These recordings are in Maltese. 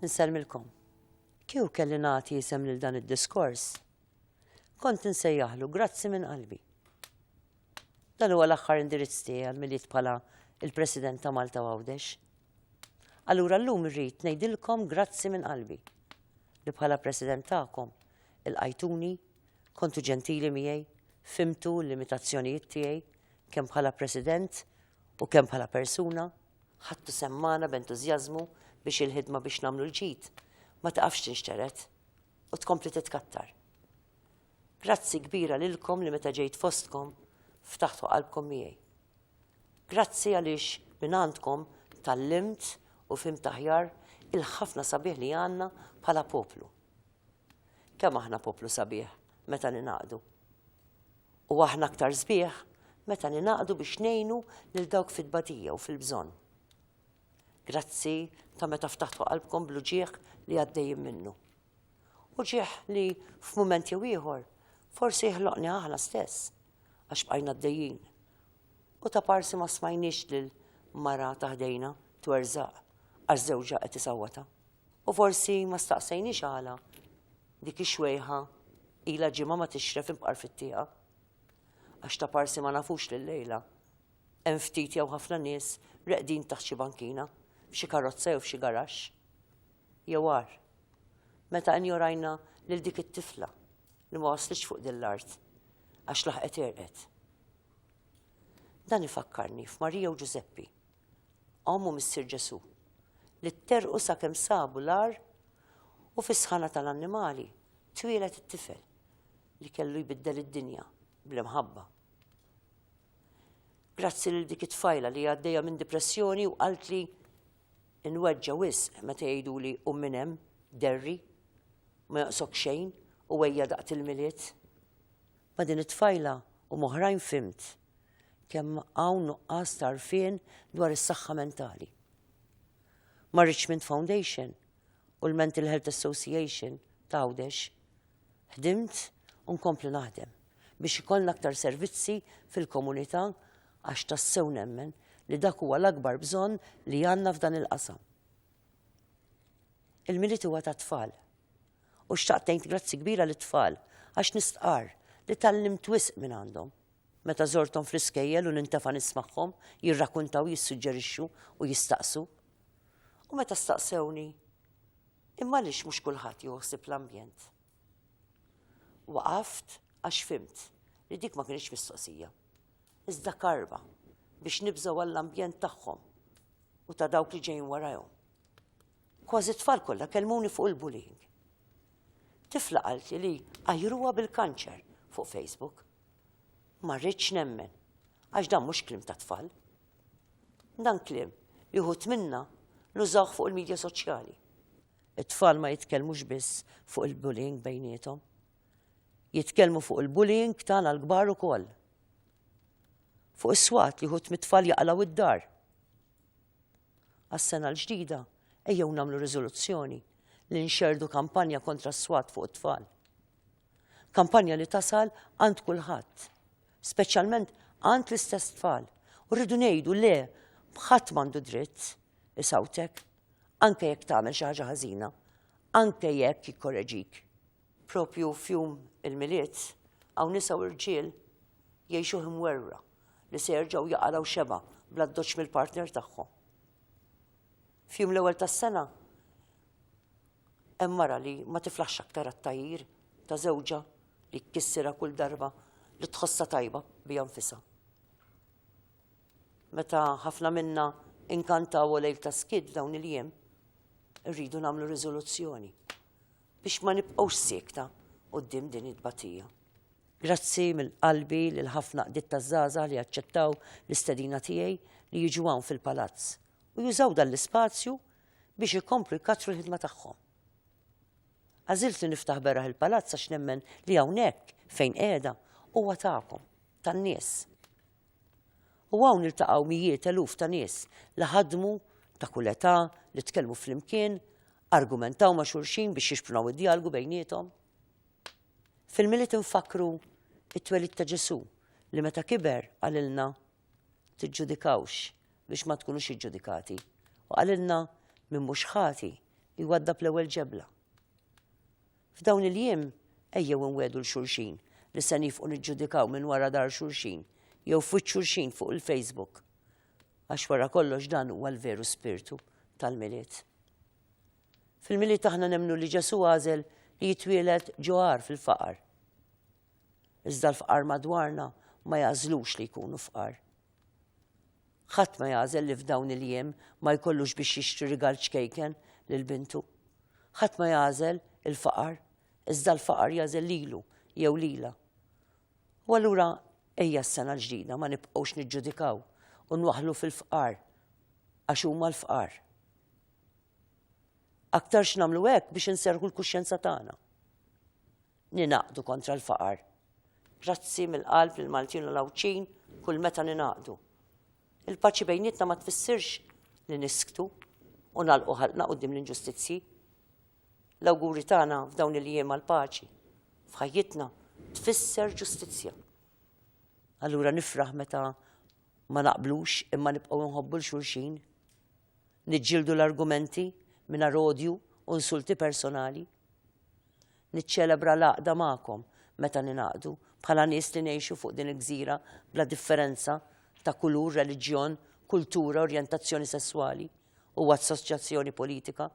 Nsellmilkom. Kieku kelli nagħti isem lil dan id-diskors, kont insejjaħlu grazzi minn qalbi. Dan huwa l-aħħar indirizz tiegħi għal miliet bħala il-President ta' Malta Għawdex. Allura llum irrid ngħidilkom grazzi minn qalbi li bħala President tagħkom il-qajtuni kontu ġentili miegħi, fimtu l-limitazzjonijiet tiegħi kemm bħala President u kemm bħala persuna Ħadtu sehem magħna b'entużjażmu biex il-ħidma biex nagħmlu l-ġid ma tiqafx tinxtered u tkompli titkattar. Grazzi kbira lilkom li meta ġejt fostkom ftaħtu qalbkom miegħi. Grazzi għaliex minn għandkom tal-limt u fim taħjar il-ħafna sabiħ li għanna bħala poplu. Kemm aħna poplu sabiħ meta ningħaqdu. U aħna aktar sbieħ meta ningħaqdu biex ngħinu lil dawk fit-tbatija u fil-bżonn. Grazzi ta' meta ftaħtu qalbkom blu ġieħ li għaddejjin minnu. U ġieħ li f'mument jew ieħor forsi jħloqni aħna stess għax bqajna d-dejjin. U ta' parsi ma smajniex lil mara taħdejna twerżaq għax żewġa qed isawwata. U forsi ma staqsejniex għala dik ix-xwejħa ila ġimgħa ma tixref imqar fit-tieqa. Għax ta' parsi ma nafux li llejla hemm ftit jew ħafna nies reqdin taħt xi bankina, f'xi karozza jew f'xi garaxx. Jew għar, meta injorajna lil dik it-tifla li ma waslitx fuq din l-art għax laħqet erqet. Dan ifakkarni f'Marija u Ġużeppi omm u missier Ġesù, li tterrqu sakemm sabu l-għar u fis-sħana tal-annimali twieled it-tifel li kellu jbiddel id-dinja bl-imħabba. Grazzi lil dik it-tfajla li għaddejja minn depressjoni u qaltli inweġġa wisq meta jgħiduli u minn hemm derri ma joqsok xejn u ejja daqt il-milied. Ma' din it-tfajla u moħrajn fimt kemm hawn nuqqas tarfien dwar is-saħħa mentali. Ma' Richmond Foundation u l-Mental Health Association ta' Għawdex ħdimt u nkompli naħdem biex ikollna aktar servizzi fil-komunità għax tassew nemmen li dak huwa l-akbar bżonn li għandna f'dan il-qasam. Il-milit huwa ta' tfal. U xtaqt ngħid grazzi kbira lit tfal għax nistqar li tallim twisq minn għandhom. Meta żorthom fl-iskejjel u nintefa' nismagħhom jirrakuntaw, jissuġġerixxu u jistaqsu. U meta staqsewni, imma għaliex mhux kulħadd jieħu ħsieb l-ambjent? Waqaft għax fimt li dik ma kienx mistoqsija. Iżda karba biex nibżgħu għall-ambjent tagħhom u ta' dawk li ġejjin warajhom. Kważi tfal kollha kelmuni fuq il-bullying. Tifla qalti li għajruha bil-kanċer fuq Facebook. Ma rridx nemmen, għax dan mhux kliem ta' tfal. Dan kliem li uħut minna nużawh fuq il-medja soċjali. It-tfal ma jitkellmux biss fuq il-bullying bejnietom. Jitkellmu fuq il-bullying tagħna l-kbar ukoll. Fuq is-swat li uħut mit-tfal jaqlaw id-dar. Għas-sena l-ġdida ejjew nagħmlu riżoluzzjoni li nxerdu kampanja kontra s-swat fuq it-tfal. Kampanja li tasal għand kulħadd, speċjalment għand l-istess tfal. U rridu ngħidu le bħadd m'għandu dritt isawtek, anke jekk tagħmel xi ħaġa ħażina, anke jekk jikkoreġik. Propju fjum il-miliet hawn nisa u rġiel jgħixu imwerra li se jerġgħu jaqalgħu xeba bl-addoċċ mill-partner tagħhom. Fjum l-ewwel tas-sena Hemm mara li ma tiflaħx aktar għat-tgħajjir ta' żewġha li jkissirha kull darba li tħossha tajba biha nfisha. Meta ħafna minna inkantaw u lejl ta' skiet dawn il-jiem, irridu nagħmlu riżoluzzjoni biex ma nibqgħux siekta quddiem din it-tbatija. Grazzi mill-qalbi lil ħafna qdiet taż-żgħażagħ li aċċettaw l-istedina tiegħi li jiġu hawn fil-Palazz u jużaw dan l-ispazju biex ikomplu jkattru l-ħidma tagħhom. Għażilt li niftaħ beraħ il-palazz għax nemmen li hawnhekk fejn qiegħda huwa tagħkom, tan-nies. U hawn iltaqgħu mijiet eluf ta' nies li ħadmu ta' kull età li tkellmu flimkien, argumentaw ma' xulxin biex jixprunaw id-dialgu bejnietom. Fil-miliet infakru it-twelid ta' Ġesu li meta kiber għalilna tiġġudikawx biex ma tkunux iġġudikati. U qalilna minn mhux ħati jwaddab l-ewwel ġebla. F'dawn il-jiem ejjew inwedu l-xulxin li se nifqu niġġudikaw minn wara dar xulxin jew fuq xulxin fuq il-Facebook. Għax wara kollox dan huwa l-veru spirtu tal-milied. Fil-milied aħna nemnu li Ġesu għażel li jitwieled ġoħar fil-faqar. Iżda l-fqar madwarna ma jagħżlux li jkunu fqar. Ħadd ma jagħżel li f'dawn il-jiem ma jkollux biex jixtri rigal ċkejken lil bintu. Ħadd ma jagħżel il-faqar, iżda l-faqar jagħżel lilu jew lila. U allura ejja s-sena l-ġdida ma nibqgħux niġġudikaw u nwaħlu fil-fqar għax huma l-fqar. Aktar x'namlu hekk biex inserħu l-kuxjenza tagħna. Ninaqdu kontra l-faqar. Grazzi mill-qalb lil Maltin u l-Għawdxin kull meta ninaqdu. Il-paċi bejnietna ma tfissirx li nisktu u nalqu ħalqna qudiem l-inġustizzji. L-awguri tagħna f'dawn il-jiem għall-paċi f'ħajjitna tfisser ġustizzja. Allura nifraħ meta ma naqblux imma nibqgħu nħobbu l-xulxin. Niġġieldu l-argumenti mingħajr odju u nsulti personali. Niċċelebra l-għaqda magħkom meta ningħaqdu bħala nies li ngħixu fuq din il-gżira bla differenza ta' kulur, reliġjon, kultura, orjentazzjoni sesswali u assoċjazzjoni politika.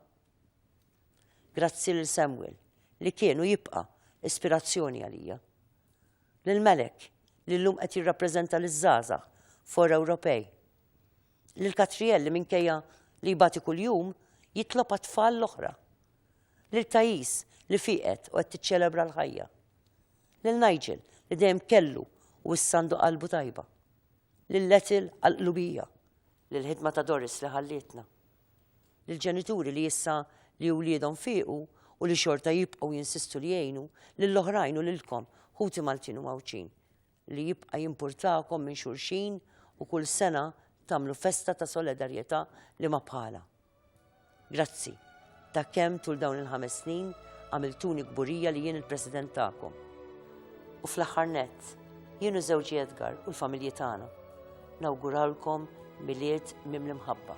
Grazzi lil Samuel li kien u jibqa' ispirazzjoni għalija. Lil Melek li llum qed jirrappreżenta liż-żgħażagħ for Ewropej. Lil Katriel li minkejja li jbati kuljum jitlob għat-tfal l-oħra Lil Thais, li fieqet u qed tiċċelebra l-ħajja. Lil Nigel, li dejjem kellu u issa għandu qalbu tajba. Lil Ethel għall-qlubija. Lil ħidma ta' Doris li ħallietna. Lil ġenituri li issa li wliedhom fiequ u li xorta jibqgħu jinsistu li jgħinu, lill-oħrajn u lilkom, ħuti Maltin u Mgħawdxin. li jibqa' jimpurtakom minn xulxin u kull sena tagħmlu festa ta' solidarjetà li ma bħala. Grazzi ta' kemm tul dawn il-ħames snin għamiltuni kburija li jien il-President tagħkom. U fl-aħħar nett, jien u żewġi Edgar u l-familji tagħna nawguralkom milied mimli mħabba.